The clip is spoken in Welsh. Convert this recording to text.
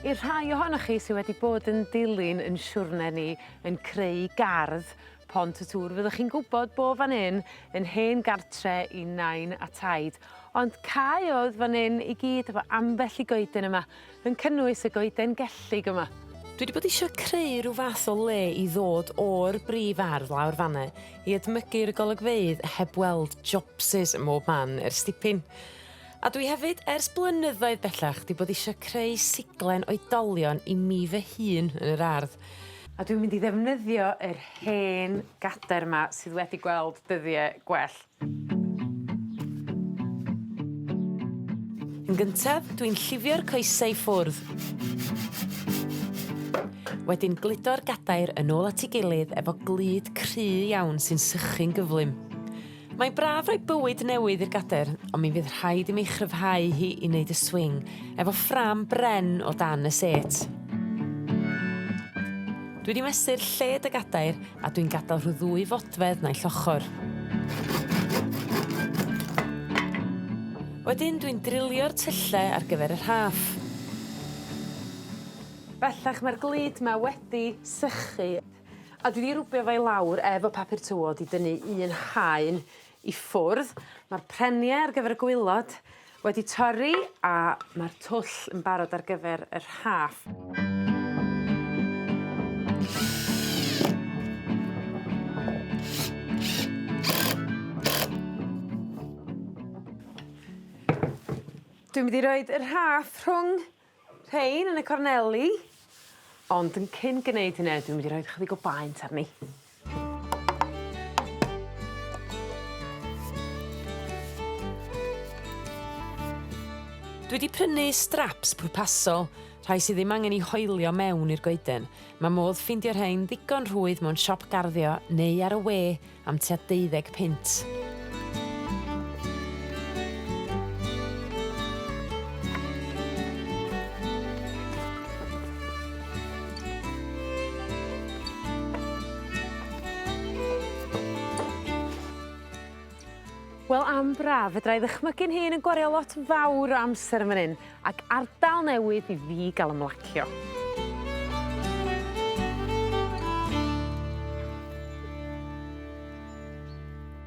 I'r rhai ohonoch chi sy wedi bod yn dilyn 'yn siwrne ni yn creu gardd Pont y Tŵr fyddwch chi'n gwbod bo' fan 'yn yn hen gartre i nain a taid ond caeodd fan 'yn i gyd efo ambell i goeden yma Yn cynnwys y goeden gellig yma. Dwi 'di bod isio creu rhyw fath o le i ddod o'r brif ardd lawr fan 'na i edmygu'r golygfeydd heb weld jobsys ym mhob man ers dipyn. A dwi hefyd ers blynyddoedd bellach 'di bod isio creu siglen oedolion i mi fy hun yn yr ardd a dwi'n mynd i ddefnyddio yr hen gader 'ma sydd wedi gweld dyddie gwell. Yn gyntaf, dwi'n llifio'r coese i ffwrdd. Wedyn gludo'r gadair yn ôl at 'i gilydd efo glud cry iawn sy'n sychu'n gyflym. Mae'n braf rhoi bywyd newydd i'r gadair, ond mi fydd rhaid i mi chryfhau hi i neud y swing efo ffrâm bren o dan y sêt. Dwi 'di mesur lled y gadair A dwi'n gadael rhyw ddwy fodfedd naill ochr. Wedyn dwi'n drilio'r tylle ar gyfer y rhaff. Bellach mae'r glud 'ma wedi sychu a dwi 'di rwbio fo i lawr efo papur tywod i dynnu un haen i ffwrdd ma'r prenie ar gyfer y gwaelod wedi torri a ma'r twll yn barod ar gyfer yr Haf. Dwi mynd i roid yr Haf rhwng Rhein yn y corneli ond yn cyn gneud hynne dwi mynd i roid chydig o baent arni. Dwi 'di prynu straps pwrpasol, rhai sy ddim angen 'u hoelio mewn i'r goeden. Ma' modd ffeindio rhein ddigon rhwydd mewn siop garddio neu ar y we am tua deuddeg punt. Wel am braf fedrai ddychmygu'n hun yn gwario lot fawr o amser yn fan 'yn Ac ardal newydd i fi ga'l ymlacio.